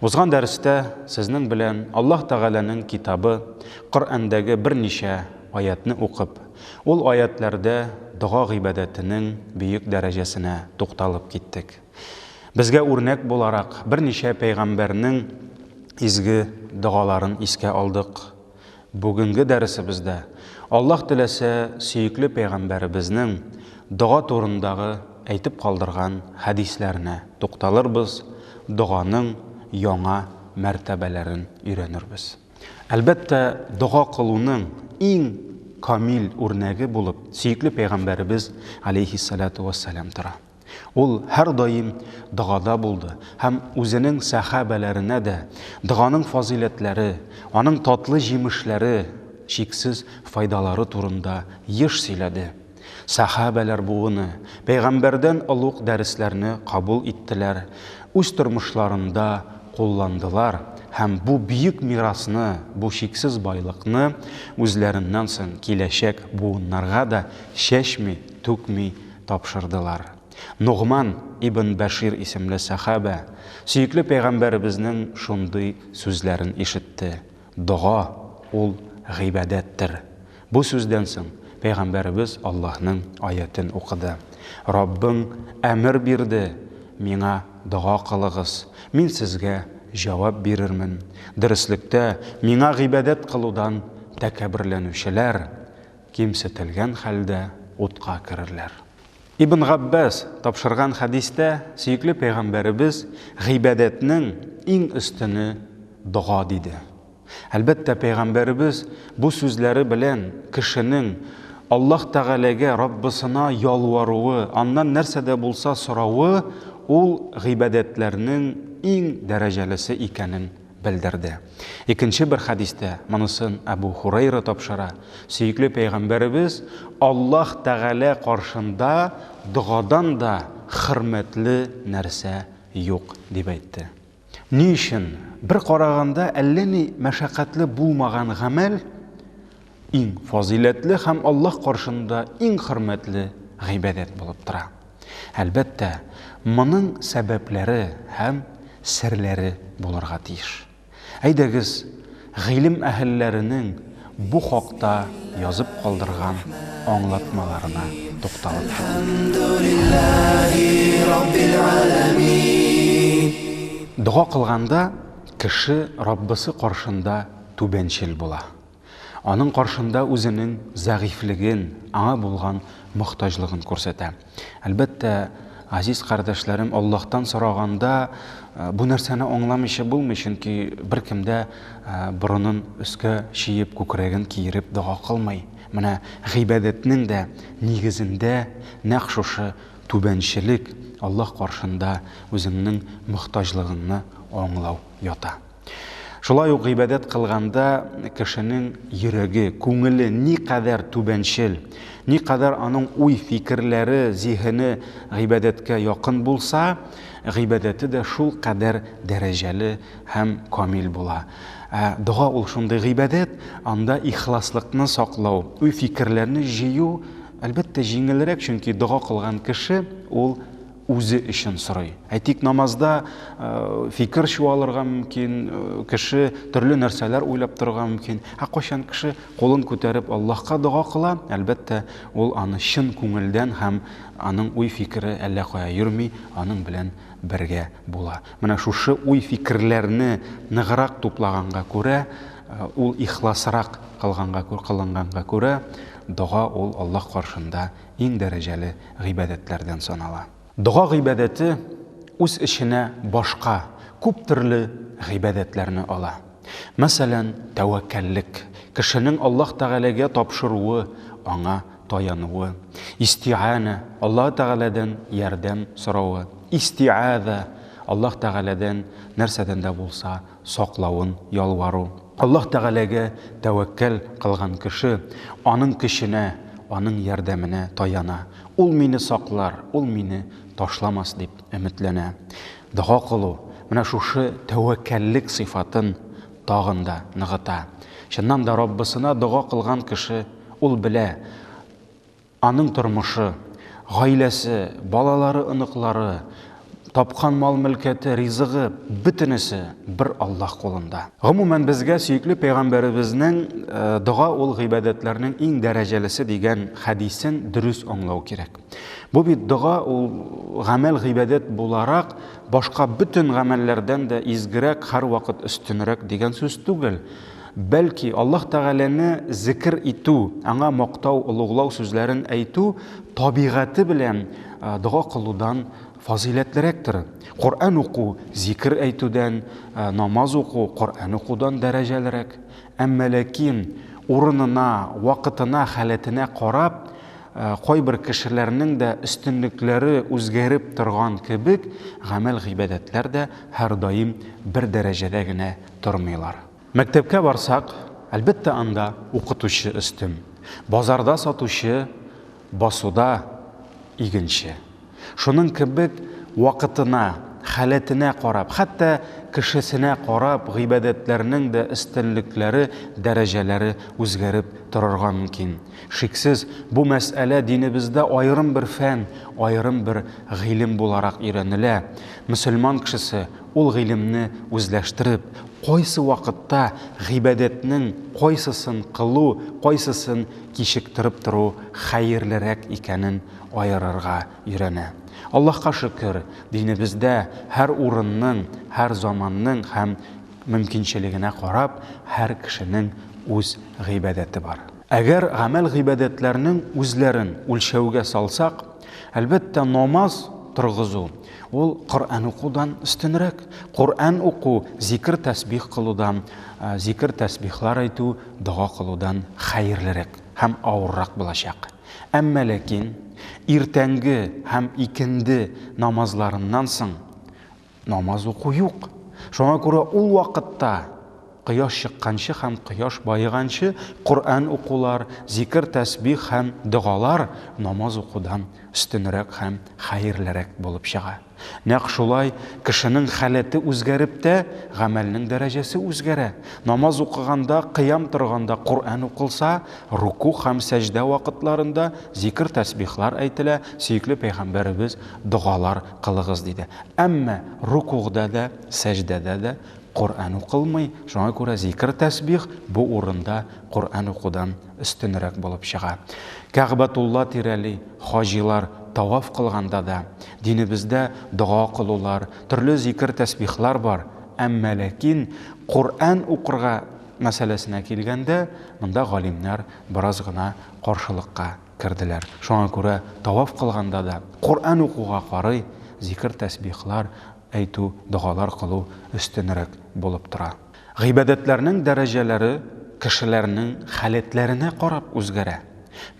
Узган дәрестә сезнең белән Аллаһ Тәгаләнең китабы Коръәндәге берничә аятьне укып, ул аятьләрдә дога гыйбадәтенең бөек дәрәҗәсенә тукталып киттек. Безгә үрнәк буларак берничә пәйгамбәрнең изге догаларын искә алдык. Бүгенге дәресебездә, Аллаһ теләсә, сөекле Пәйгамбәребезнең дога турындагы әйтеп калдырган хәдисләренә тукталырбыз, доганың яңа мәртәбәләрен өйрәнербез. Әлбәттә, дога кылуның иң камил үрнәге булып сөекле Пәйгамбәребез, галәйһиссәлатү вәссәлам, тора. Ул һәрдаим догада булды һәм үзенең сәха бәләренә дә доганың фазыйләтләре, аның татлы җимешләре, чиксез файдалары турында еш сөйләде. Сәха бәләр буыны пәйгамбәрдән олуг дәресләрне кабул иттеләр, үз тормышларында кулландылар һәм бу бөек мирасны, бу чиксез байлыкны үзләреннән соң киләчәк буыннарга да чәчми, түкми тапшырдылар. Ногман ибн Бәшир исемле сәхабә сөекле пәйгамбәребезнең шундый сүзләрен ишетте, Дога, ул гыйбадәттер. Бу сүздән соң пәйгамбәребез Аллаһның аятен укыды, Раббың әмер бирде, Миңа дога кылыгыз, мин сезгә җавап бирермен. Дөреслектә, миңа гыйбадәт кылудан тәкәбберләнүчеләр кимсетелгән хәлдә утка керерләр. Ибн Габбас тапшырган хәдистә сөекле пәйгамбәребез гыйбадәтнең иң өстене дога диде. Әлбәттә, пәйгамбәребез бу сүзләре белән кешенең Аллаһ Тәгаләгә, Раббысына ялваруы, аннан нәрсә дә булса соравы ул гыйбадәтләрнең иң дәрәҗәлесе икәнен белдерде. Икенче бер хәдистә монысын Әбү Һурайра тапшыра, сөекле пәйгамбәребез, Аллаһ Тәгалә каршында догадан да хөрмәтле нәрсә юк, дип әйтте. Ни өчен? Бер караганда әллә ни мәшәкатьле булмаган гамәл, Иң фазыйләтле һәм Аллаһ каршында иң хөрмәтле гыйбадәт булып тора. Әлбәттә, моның сәбәпләре һәм серләре булырга тиеш. Әйдәгез, гыйлем әһелләренең бу хакта язып калдырган аңлатмаларына тукталып Дога кылганда кеше Раббысы каршында түбәнчел була. Аның каршында үзенең зәгыйфьлеген, аңа булган мохтаҗлыгын күрсәтә. Әлбәттә, газиз кардәшләрем, Аллаһтан сораганда, бу нәрсәне аңламыйча булмый, чөнки беркем дә борынын өскә чиеп, күкрәген киереп дога кылмый. Менә гыйбадәтнең дә нигезендә нәкъ шушы түбәнчелек, Аллаһ каршында үзеңнең мохтаҗлыгыңны аңлау ята. Шулай ук гыйбадәт кылганда кешенең йөрәге, күңеле никадәр түбәнчел, никадәр аның уй-фикерләре, зиһене гыйбадәткә якын булса, гыйбадәте дә шул кадәр дәрәҗәле һәм камил була. Ә дога ул шундый гыйбадәт, анда ихласлыкны саклау, уй-фикерләрне җыю, әлбәттә, җиңелрәк, чөнки дога кылган кеше ул үзе өчен сорый. Әйтик, намазда фикер чуалырга мөмкин, кеше төрле нәрсәләр уйлап торырга мөмкин. Ә кайчан кеше кулын күтәреп Аллаһка дога кыла, әлбәттә, ул аны чын күңелдән һәм аның уй-фикере әллә кая йөрми, аның белән бергә була. Менә шушы уй-фикерләрне ныграк туплаганга күрә, ул ихласрак кылганга кылынганга күрә, дога ул Аллаһ каршында иң дәрәҗәле гыйбадәтләрдән санала. Дога гыйбадәте үз эченә башка күп төрле гыйбадәтләрне ала. Мәсәлән, тәвәккәллек, кешенең Аллаһ Тәгаләгә тапшыруы, Аңа таянуы, истиганә, Аллаһ Тәгаләдән ярдәм соравы, истиаза, Аллаһ Тәгаләдән нәрсәдән дә булса саклавын ялвару. Аллаһ Тәгаләгә тәвәккәл кылган кеше Аның көченә, Аның ярдәменә таяна. Ул мине саклар, Ул мине ташламас дип өметләнә. Дога кылу менә шушы тәвәккәллек сыйфатын тагын да ныгыта. Чыннан да, Раббысына дога кылган кеше, ул белә, Аның тормышы, гаиләсе, балалары, оныклары, тапкан мал-мөлкәте, ризыгы, бөтенесе бер Аллаһ кулында. Гомумән, безгә сөекле пәйгамбәребезнең э, дога ул гыйбадәтләрнең иң дәрәҗәлесе дигән хәдисен дөрес аңлау кирәк. Бу бит дога ул гамәл гыйбадәт буларак башка бөтен гамәлләрдән дә изгерәк, һәрвакыт өстенрәк дигән сүз түгел. Бәлки, Аллаһ Тәгаләне зикер итү, Аңа мактау, олуглау сүзләрен әйтү табигате белән дога кылудан фазыйләтлерәктер. Коръән уку зикер әйтүдән, намаз уку Коръән укудан дәрәҗәлерәк. Әмма ләкин урынына, вакытына, халәтенә карап, кайбер кешеләрнең дә өстенлекләре үзгәреп торган кебек, гамәл-гыйбадәтләр дә һәрдаим бер дәрәҗәдә генә тормыйлар. Мәктәпкә барсак, әлбәттә, анда укытучы өстен, базарда сатучы, басуда игенче. Шуның кебек вакытына, халәтенә карап, хәтта кешесенә карап гыйбадәтләрнең дә өстенлекләре, дәрәҗәләре үзгәреп торырга мөмкин. Шиксез, бу мәсьәлә динебездә аерым бер фән, аерым бер гыйлем буларак өйрәнелә. Мөселман кешесе Ул гыйлемне үзләштереп, кайсы вакытта гыйбадәтнең кайсысын кылу, кайсысын кичектереп тору хәерлерәк икәнен аерырга өйрәнә. Аллаһка шөкер, динебездә һәр урынның, һәр заманның һәм мөмкинчелегенә карап, һәр кешенең үз гыйбадәте бар. Әгәр гамәл-гыйбадәтләрнең үзләрен үлчәүгә салсак, Әлбәттә, намаз торгызу ул Коръән укудан өстенрәк. Коръән уку зикр тәсбих кылудан, зикр тәсбихлар әйтү, дога кылудан хәерлерәк һәм авыррак булачак. Әмма ләкин иртәнге һәм икенде намазларыннан соң Намаз уку юк. Шуңа күрә ул вакытта, кояш чыкканчы һәм кояш баеганчы, Коръән укулар, зикер-тәсбих һәм догалар намаз укудан өстенрәк һәм хәерлерәк булып чыга. Нәкъ шулай кешенең халәте үзгәреп тә, гамәлнең дәрәҗәсе үзгәрә. Намаз укыганда, кыям торганда Коръән укылса, руку һәм сәҗдә вакытларында зикер-тәсбихлар әйтелә, сөекле пәйгамбәребез догалар кылыгыз, диде. Әмма рукугъда да, сәҗдәдә дә Коръән укылмый, шуңа күрә зикер-тәсбих бу урында Коръән укудан өстенрәк булып чыга. Кәгъбәтулла тирәли хаҗилар таваф кылганда да, динебездә дога кылулар, төрле зикер-тәсбихлар бар, әмма ләкин Коръән укырга мәсьәләсенә килгәндә, монда галимнәр бераз гына каршылыкка Керделәр. Шуңа күрә таваф кылганда да Коръән укуга карый, зикер-тәсбихлар әйтү, догалар кылу өстенрәк булып тора. Гыйбадәтләрнең дәрәҗәләре кешеләрнең халәтләренә карап үзгәрә.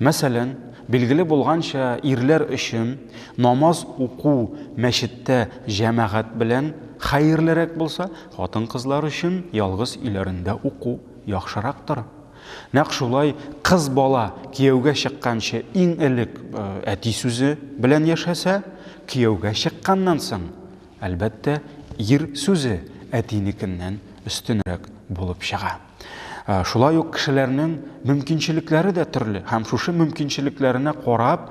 Мәсәлән, билгеле булганча, ирләр өчен намаз уку мәчеттә җәмәгать белән хәерлерәк булса, хатын-кызлар өчен ялгыз өйләрендә уку яхшырактыр. Нәкъ шулай кыз бала кияүгә чыкканчы иң элек әти сүзе белән яшәсә, кияүгә чыкканнан соң, әлбәттә, ир сүзе әтинекеннән өстенрәк булып чыга. Шулай ук кешеләрнең мөмкинчелекләре дә төрле һәм шушы мөмкинчелекләренә карап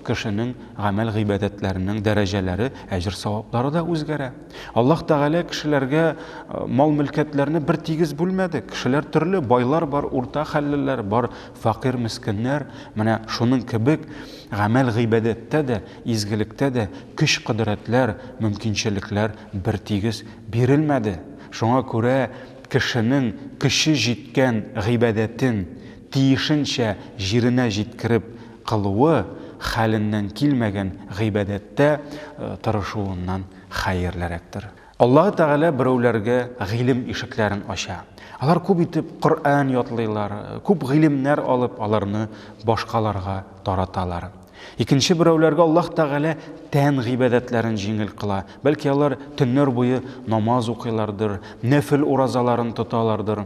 кешенең гамәл-гыйбадәтләренең дәрәҗәләре, әҗер-саваплары да үзгәрә. Аллаһ Тәгалә кешеләргә мал-мөлкәтләрне бер тигез бүлмәде. Кешеләр төрле, байлар бар, урта хәллеләр бар, факир мескеннәр. Менә шуның кебек гамәл гыйбадәттә дә, изгелектә дә көч-кодрәтләр, мөмкинчелекләр бер тигез бирелмәде. Шуңа күрә кешенең көче җиткән гыйбадәтен тиешенчә җиренә җиткереп, кылуы хәленнән килмәгән гыйбадәттә тырышуыннан хәерлерәктер. Аллаһы Тәгалә берәүләргә гыйлем ишекләрен ача. Алар күп итеп Коръән ятлыйлар, күп гыйлемнәр алып, аларны башкаларга тараталар. Икенче берәүләргә Аллаһ Тәгалә тән гыйбадәтләрен җиңел кыла. Бәлки алар төннәр буе намаз укыйлардыр, нәфел уразаларын тоталардыр.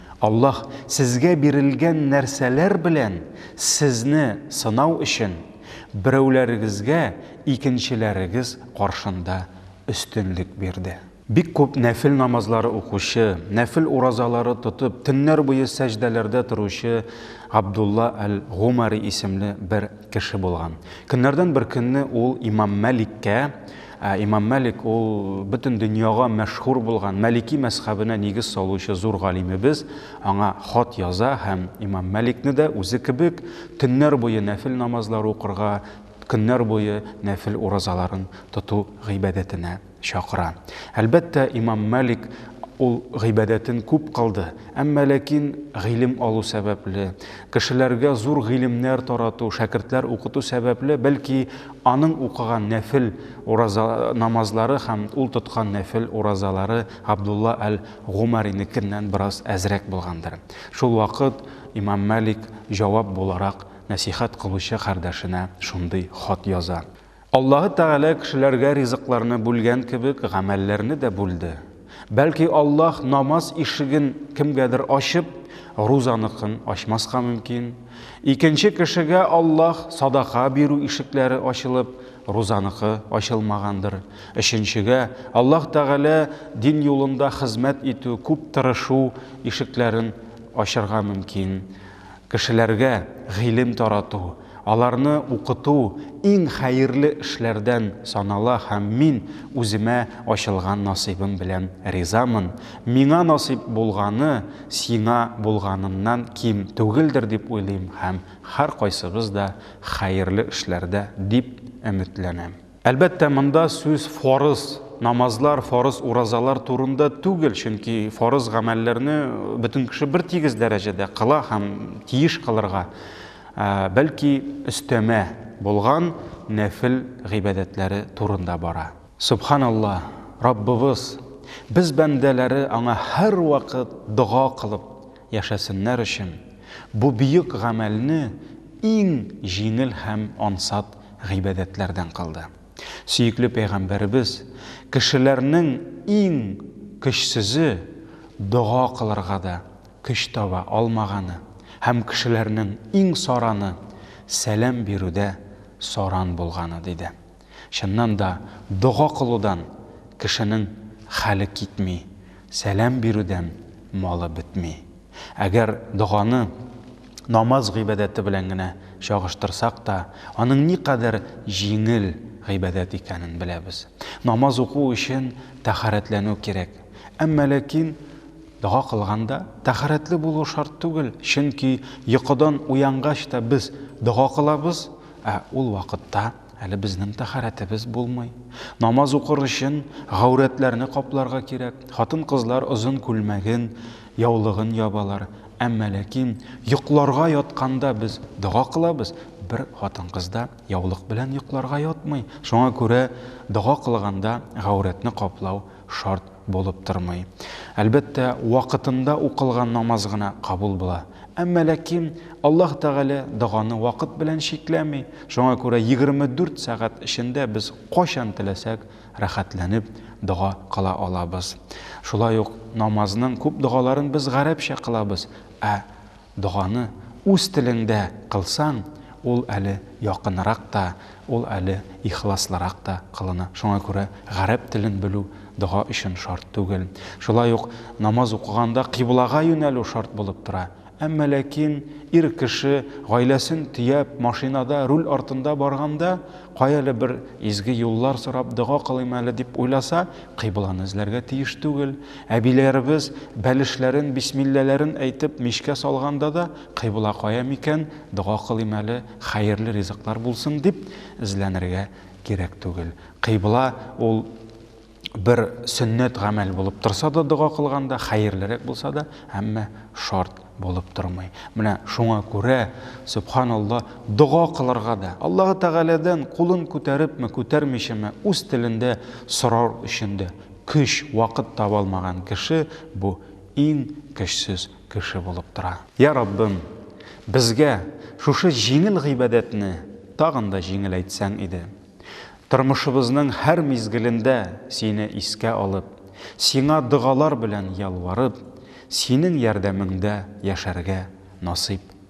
Аллаһ сезгә бирелгән нәрсәләр белән сезне сынау өчен, берәүләрегезгә икенчеләрегез каршында өстенлек бирде. Бик күп нәфел намазлары укучы, нәфел уразалары тотып, төннәр буе сәҗдәләрдә торучы Габдулла әл-Гумари исемле бер кеше булган. Көннәрдән бер көнне ул имам Мәликкә, Ә Имам Мәлик ул бөтен дөньяга мәшһүр булган, Мәлики мәзхәбенә нигез салучы зур галимебез, аңа хат яза һәм Имам Мәликне дә үзе кебек төннәр буе нәфел намазлар укырга, көннәр буе нәфел уразаларын тоту гыйбадәтенә чакыра. Әлбәттә, Имам Мәлик ул гыйбадәтен күп кылды, әмма ләкин гыйлем алу сәбәпле, кешеләргә зур гыйлемнәр тарату, шәкертләр укыту сәбәпле, бәлки, Аның укыган нәфел ураза намазлары һәм ул тоткан нәфел уразалары Габдулла әл-Гумаринекеннән бераз әзрәк булгандыр. Шул вакыт имам Малик җавап буларак нәсыйхәт кылучы кардәшенә шундый хат яза. Аллаһы Тәгалә кешеләргә ризыкларны бүлгән кебек, гамәлләрне дә бүлде. Бәлки Аллаһ намаз ишеген кемгәдер ачып, рузаныкын ачмаска мөмкин. Икенче кешегә Аллаһ садака бирү ишекләре ачылып, рузаныкы ачылмагандыр. Өченчегә Аллаһ Тәгалә дин юлында хезмәт итү, күп тырышу ишекләрен ачырга мөмкин. Кешеләргә гыйлем тарату, аларны укыту иң хәерле эшләрдән санала һәм мин үземә ачылган насыйбым белән ризамын. Миңа насыйп булганы сиңа булганыннан ким түгелдер дип уйлыйм һәм һәркайсыбыз да хәерле эшләрдә дип өметләнәм. Әлбәттә, монда сүз фарыз намазлар, фарыз уразалар турында түгел, чөнки фарыз гамәлләрне бөтен кеше бер тигез дәрәҗәдә кыла һәм тиеш кылырга, бәлки өстәмә булган нәфил гыйбадәтләре турында бара. Субханалла, Раббыбыз, без бәндәләре аңа һәрвакыт дога кылып, яшәсеннәр өчен бу бөек гамәлне иң җиңел һәм ансат гыйбадәтләрдән кылды. Сөекле пәйгамбәребез, Кешеләрнең иң көчсезе дога кылырга да көч таба алмаганы һәм кешеләрнең иң сараны сәлам бирүдә саран булганы, диде. Чыннан да, дога кылудан кешенең хәле китми, сәлам бирүдән малы бетми. Әгәр доганы намаз гыйбадәте белән генә чагыштырсак та, аның никадәр җиңел гыйбадәт икәнен беләбез. Намаз уку өчен тәһарәтләнү кирәк. Әмма ләкин дога кылганда тәһарәтле булу шарт түгел, чөнки йокыдан уянгач та без дога кылабыз, ә ул вакытта, Әле безнең тәхарәтебез булмый. Намаз укыр өчен гаурәтләрне капларга кирәк. Хатын-кызлар озын күлмәген, яулыгын ябалар. Әмма ләкин йокларга ятканда без дога кылабыз, бер хатын-кыз да яулык белән йокларга ятмый. Шуңа күрә дога кылганда гаурәтне каплау шарт булып тормый. Әлбәттә, вакытында укылган намаз гына кабул була. Әмма ләкин Аллаһ Тәгалә доганы вакыт белән чикләми, шуңа күрә 24 сәгать эчендә без кайчан теләсәк рәхәтләнеп дога кыла алабыз. Шулай ук намазның күп догаларын без гарәпчә кылабыз, ә Доганы үз телеңдә кылсаң, ул әле якынрак та, ул әле ихласлырак та кылына. Шуңа күрә гарәп телен белү дога өчен шарт түгел. Шулай ук намаз укыганда кыйблага юнәлү шарт булып тора. Әмма ләкин ир кеше гаиләсен төяп, машинада руль артында барганда, каяле бер изге юллар сорап дога кылыйм әле дип уйласа, кыйбланы эзләргә тиеш түгел. Әбиләребез бәлешләрен, бисмилләләрен әйтеп, мичкә салганда да, кыйбла кая микән, дога кылыйм әле, хәерле ризыклар булсын, дип эзләнергә кирәк түгел. Кыйбла ул бер сөннәт гамәл булып торса да дога кылганда, хәерлерәк булса да, әмма шарт булып тормый. Менә шуңа күрә, сөбханалла, дога кылырга да, Аллаһы Тәгаләдән кулын күтәрепме, күтәрмичәме, үз телендә сорар өчен дә, Көч, вакыт таба алмаган кеше бу иң көчсез кеше булып тора. Йа Раббым, безгә шушы җиңел гыйбадәтне тагын да җиңеләйтсәң иде. Тормышыбызның һәр мизгелендә Сине искә алып, Сиңа догалар белән ялварып, Синең ярдәмеңдә яшәргә насыйп